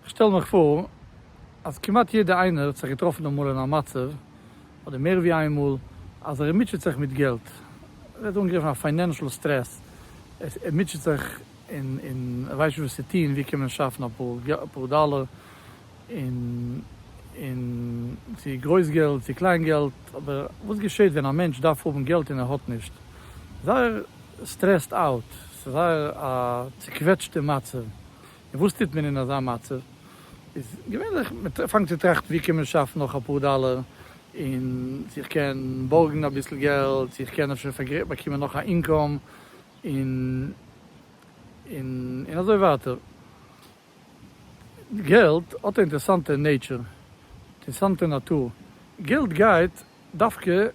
איך שטעל מיך פאר אז כמעט יעדע איינער האט זיך געטראפן אמאל אין א מצב, אדער מער ווי איין מאל, אז ער מוטשעט זיך מיט געלט, ער ווערט אנגעגריפן א פיינענשעל סטרעס, ער מוטשעט זיך און ער ווייסט נישט וואס צו טון, ווי קען מען שאפן אפאר דאלער, און און צו גרויס געלט צו קליין געלט, אבער וואס געשעט ווען א מענטש דארף האבן געלט און ער האט נישט? זייער סטרעסד אוט, ס'איז זייער א צוקוועטשטע מצב, און וואס טוט מען אין אזא מצב? איז געווענליך מ'פאנגט צו טראכטן ווי קען מען שאפן נאך אפאר דאלער, און צו איך קען בארגן אביסל געלט, צו איך קען אפשר באקומען נאך א אינקאם, און און און אזוי ווייטער. געלט האט א אינטערסאנטע נעיטשער, אינטערסאנטע נאטור, געלט גייט דווקא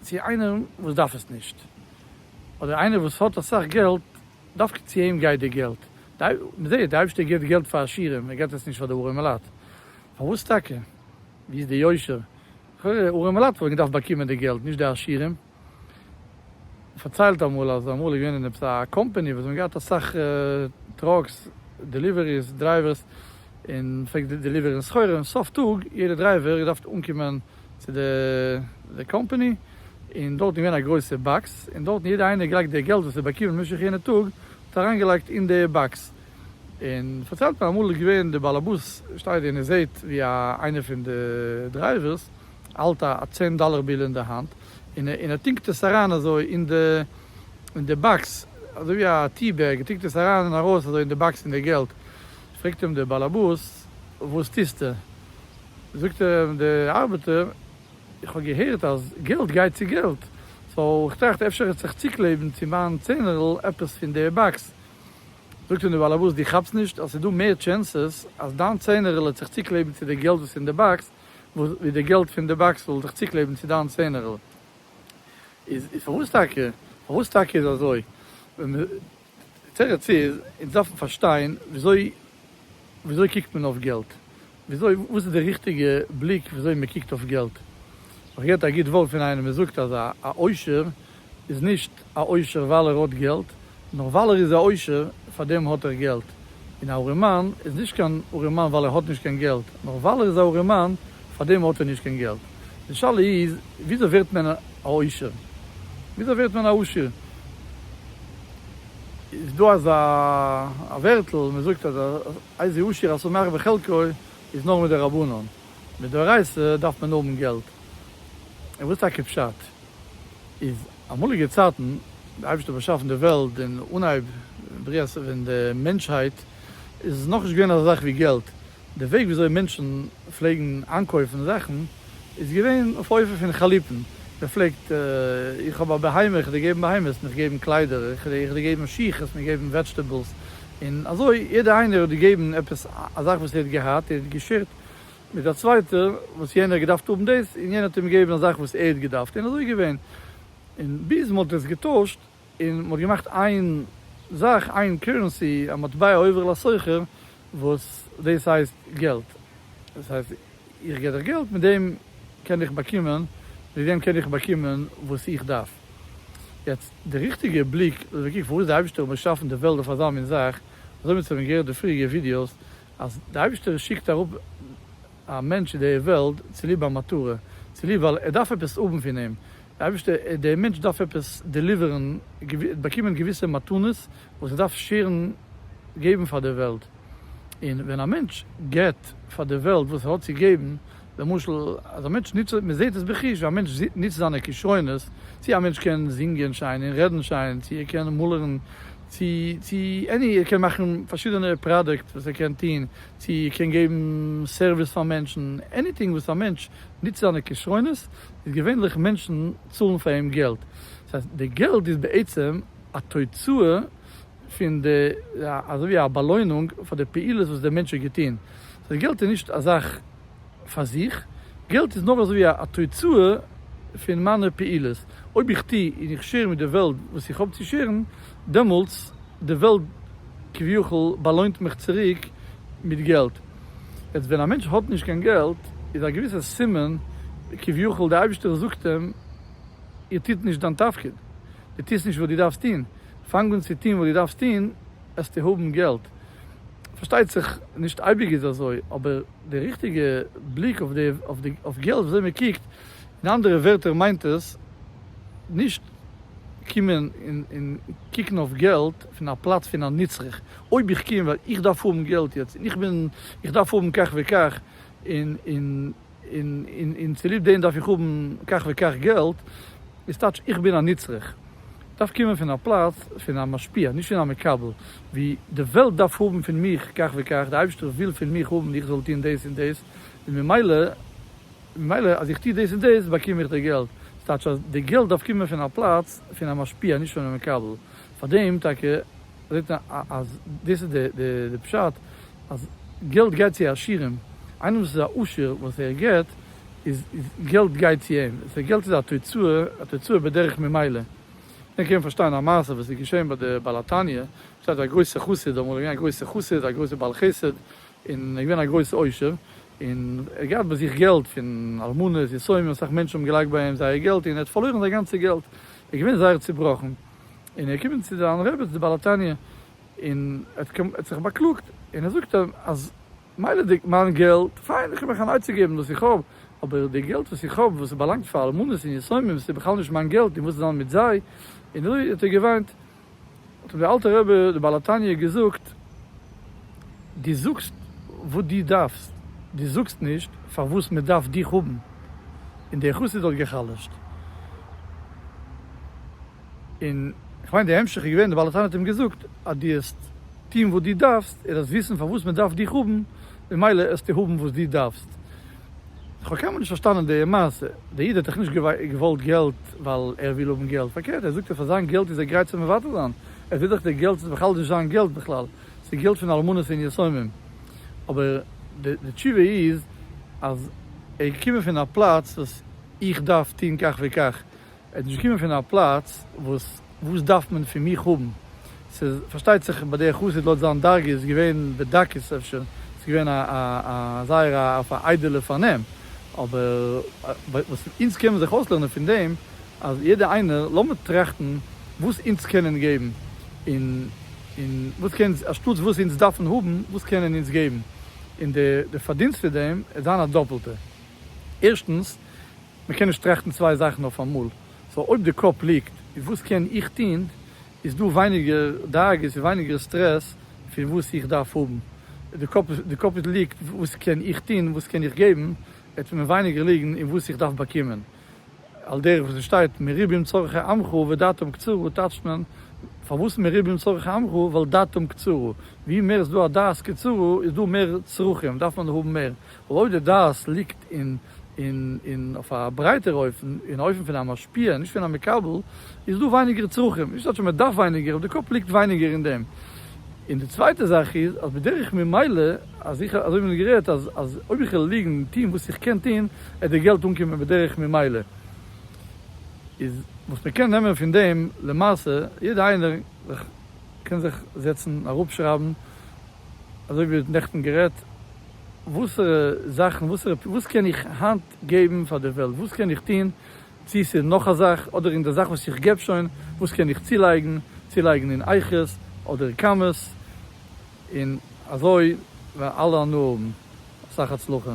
צו איינער וואס דארף עס נישט, אדער איינער וואס האט אסאך געלט, דווקא צו אים גייט די געלט, מען זעט די אייבערשטער געבט געלט פאר עשירים, ער געבט עס נישט פאר די ארעמעלייט, פארוואס טאקע? ווי איז די יושר? לכאורה ארעמעלייט וואלטן געדארפט באקומען די געלט, נישט די עשירים. פארציילט אמאל אז אמאל איז געווען אין עפעס א קאמפעני וואס זיי האבן געהאט אסאך טראקס, דעליוועריס, דרייווערס, און פלעגט די דעליווערן סחורה, און סוף טאג יעדע דרייווער איז געדארפט אנקומען צו די קאמפעני, און דארט איז געווען א גרויסע באקס, און דארטן יעדע איינער געלייגט די געלט וואס ער האט באקומען במשך יענע טאג, האט ער אריינגעלייגט אין די באקס, און פארציילט מען אמאל איז געווען די בעל הבית שטייט און ער זעהט ווי איינער פון די דרייווערס האלט א צען דאלער ביל אין די האנט און ער טינקט עס אריין אזוי אין די באקס אזוי ווי א טי בעג, ער טינקט עס אריין און ארויס אזוי אין די באקס פון די געלט, פרעגט אים די באלעבאס וואס טוסטו? זאגט אים די ארבעטער איך האב געהערט אז געלט גייט צו געלט סאו איך טראכט אפשר האט זיך צוקלעבן צו מיין צענערל עפעס פון די באקס, זאגט אים די באלעבאס דו כאפסט נישט אז ס'איז דא מער טשענסעס אז דיין צענערל האט זיך צוקלעבן צו די געלט וואס אין די באקס וואו די געלט פון די באקס זאל זיך צוקלעבן צו דיין צענערל, איז פארוואס טאקע, פארוואס טאקע איז אזוי, די תירוץ איז, אונז דארפן פארשטיין וויאזוי, וויאזוי קוקט מען אויף געלט, וויאזוי, וואס איז די ריכטיגע בליק וויאזוי מען קוקט אויף געלט, האב איך געהערט א גוט ווארט פון איינעם, ער זאגט אז א עושר איז נישט א עושר ווייל ער האט געלט, נאר ווייל ער איז א עושר פאר דעם האט ער געלט, און א ארימאן איז נישט קיין ארימאן ווייל ער האט נישט קיין געלט, נאר ווייל ער איז א ארימאן פאר דעם האט ער נישט קיין געלט. די שאלה איז וויאזוי ווערט מען א עושר? וויאזוי ווערט מען א עשיר? איז דא אזא ווערטל מען זאגט אז איזה עשיר השמח בחלקו איז נאר מדרבנן, מדאורייתא דארף מען האבן געלט, און וואס טאקע פשט? איז אמאליגע צייטן די אייבערשטער באשאפן די וועלט און אנהייב בריאת פון די מענטשהייט איז נאכנישט געווען אזא זאך ווי געלט, די וועג ווי אזוי מענטשן פלעגן איינקויפן זאכן איז געווען אויף אופן פון חליפין, מען פלעגט איך האב א בהמה איך וועל דיר געבן בהמה העסט מיך געבן קליידער, איך וועל דיר געבן שיך העסט מיר געבן וועדזשטעבעלס, און אזוי יעדער איינער האט געגעבן עפעס א זאך וואס ער האט געהאט ער האט געשערט מיט א צווייטער וואס יענער האט געדארפט האבן דאס און יענער האט אים געגעבן א זאך וואס ער האט געדארפט און אזוי איז געווען און ביז מען האט עס געטוישט און מען האט געמאכט איין זאך איין קורענסי א מטבע עובר לסוחר וואס דאס הייסט געלט דאס הייסט איך גיב דיך געלט מיט דעם קען איך באקומען מיט דעם קען איך באקומען וואס איך דארף יעצט די ריכטיגע בליק אדער קוק פארוואס די אייבישטער האט באשאפן די וועלט אויף אזא מין זאך אזוי ווי מיר האבן געהערט די פריעריגע ווידיאוס אז דער אייבערשטער שיקט אראפ א מענטש צו די וועלט צוליב א מטרה, צוליב ווייל ער דארף עפעס האבן פון אים, דער אייבערשטער, דער מענטש דארף עפעס דעליווערן, באקומען געוויסע מתנות וואס ער דארף שעירן, געבן פאר די וועלט, און ווען א מענטש געבט פאר די וועלט וואס ער האט צו געבן, למשל, אז א מענטש נוצט, מען זעט עס בחוש, ווי א מענטש נוצט זיינע כשרונות, צי א מענטש קען זינגען שיין און רעדן שיין, צי ער קען מאלערן, צי צי עני ער קען מאכן פארשידענע פראדוקט וואס ער קען טוהן, צי ער קען געבן סערוויס פאר מענטשן, עניטינג וואס א מענטש נוצט זיינע כשרונות, איז געווענליך מענטשן צאלן פאר אים געלט, דאס הייסט די געלט איז בעצם א תוצאה. פון די, אזוי ווי א באלוינונג פאר די פעולות וואס דער מענטש האט געטון. סאו געלט איז נישט א זאך פאר זיך, געלט איז נאר אזוי ווי א תוצאה פון מיינע פעולות. אויב איך טו און איך שער מיט די וועלט וואס איך האב צו שערן, דעמאלטס די וועלט כביכול באלוינט מיך צוריק מיט געלט. יעצט ווען א מענטש האט נישט קיין געלט, איז א געוויסע סימן כביכול דער אייבישטער זאגט אים, איר טוט נישט דיין תפקיד, דו טוסט נישט וואס דו דארפסט טון. פאנג אן צו טון וואס דו דארפסט טון, וועסטו האבן געלט. פארשטייט זיך, נישט אייביג איז אזוי, אבער די ריכטיגע בליק אויף געלט, וויאזוי מען קוקט, אין אנדערע ווערטער מיינט עס, נישט קומען און קוקן אויף געלט פון א פלאץ פון א נצרך, אויב איך קום ווייל איך דארף האבן געלט יעצט, און איך דארף האבן כך וכך, און. און צוליב דעם דארף איך האבן כך וכך געלט, איז טייטש איך בין א נצרך. דארף קומען פון א פלאץ פון א משפיע, נישט פון א מקבל, ווי די וועלט דארף האבן פון מיך כך וכך, די אייבערשטער וויל פון מיך האבן איך זאל טון דאס און דאס, און ממילא ממילא אז איך טו דאס און דאס באקום איך די געלט, איז טייטש אז די געלט דארף קומען פון א פלאץ פון א משפיע, נישט פון א מקבל. פאר דעם טאקע זעט מען אז דאס איז די פשט אז געלט גייט צו עשירים, איינער וואס איז א עשיר וואס ער געבט איז געלט גייט צו אים, סאו געלט איז א תוצאה, א תוצאה בדרך ממילא, דען קען מען פארשטיין א מעשה וואס איז געשען ביי די בעל התניא, שטייט א גרויסע חסיד, אמאל איז געווען א גרויסע חסיד, א גרויסע בעל חסד, און ער איז געווען א גרויס עושר, און ער האט געהאט ביי זיך געלט פון אלמנות יתומים, אסאך מענטשן האבן געלייגט ביי אים זייער געלט און ער האט פארלוירן זיין גאנצע געלט, ער איז געווען זייער צובראכן. און ער איז געקומען צו זיין רעבעצ די בעל התניא און ער האט זיך באקלאגט און ער זאגט אים אז מילא די מיין געלט פיין איך קען מיך אן עצה געבן וואס איך האב אבער די געלט וואס איך האב וואס עס באלאנגט פאר אלמנות און יתומים עס איז בכלל נישט מיין געלט און וואס דען מיט זיי און אזוי האט ער געוויינט האט אים די אלטע רבי די בעל התניא געזאגט די זאגסט וואס די דארפסט, די זאגסט נישט פארוואס מען דארף דיך האבן, און די חסיד האט גע'חלש'ט, און כ'מיין די המשך איז געווען די בעל התניא האט אים געזאגט אז די העסט טוהן וואס די דארפסט, ער העסט וויסן פארוואס מען דארף דיך האבן, ממילא העסטו האבן וואס די דארפסט. כ'האב קיינמאל נישט פארשטאנען די מעשה, די איד האט דאך נישט געוואלט געלט ווייל ער וויל האבן געלט, פארקערט ער זאגט אז פאר זיין געלט איז ער גרייט צו מוותר זיין, ער זעהט דאך די געלט איז בכלל נישט זיין געלט בכלל, ס'געלט פון אלמנות און יתומים. אבער די תשובה איז אז ער איז געקומען פון א פלאץ וואס איך דארף טון כך וכך. ער איז נישט געקומען פון א פלאץ וואס וואס דארף מען פון מיך האבן. ס'איז פארשטייט זיך ביי דער חסיד לויט זיין דרגה איז געווען בדקות אפשר, ס'איז געווען א א זייער אויף א איידעלע פארנעם. אבער וואס אונז קענען זיך אויסלערנען פון דעם אז יעדער איינער, לאמיר טראכטן וואס אונז קענען געבן, און און וואס קען אונז, אנשטאטס וואס אונז דארפן האבן, וואס קענען אונז געבן, און די די פארדינסט פון דעם וועט זיין א דאפלטע. ערשטנס, מען קען נישט טראכטן צוויי זאכן אויפאמאל, סאו אויב די קאפ ליגט אין וואס קען איך טון, איז דא ווייניגער דאגות און ווייניגער סטרעס פון וואס איך דארף האבן. די קאפ די קאפ ליגט וואס קען איך טון, וואס קען איך געבן, וועט מען ווייניגער ליגן אין וואס איך דארף באקומען. על דרך ווי ס'שטייט מרובים צרכי עמך ודעתם קצרה טייטשט מען, פארוואס מרובים צרכי עמך? ווייל דעתם קצרה, ווי מער איז דא א דעת קצרה איז דא מער צרכים, דארף מען האבן מער, ווייל אויב די דעת ליגט אין אין אין אויף א ברייטער אופן, אין אופן פון א משפיע נישט פון א מקבל, איז דא ווייניגער צרכים, נישט אז מ'דארף ווייניגער, אבער די קאפ ליגט ווייניגער אין דעם. און די צווייטע זאך איז אז בדרך ממילא אז איך אזוי ווי מיר האבן גערעדט אז אז אויב איך וועל ליגן און טון וואס איך קען טון עט די געלט אנקומען בדרך ממילא איז וואס מען קען נעמען פון דעם למעשה יעדע איינער זיך קען זיך זעצן אראפ שרייבן אזוי ווי נעכטן גערעדט וואסערע זאכן וואסערע וואס קען איך היינט געבן פאר די וועלט וואס קען איך טון צי ס'איז נאך א זאך, אדער אין די זאך וואס איך געב שוין, וואס קען איך צולייגן, צולייגן אין אייכערס, אדער קאמעס, און אזוי וועלן אלע הנאה האבן, אסאך הצלחה.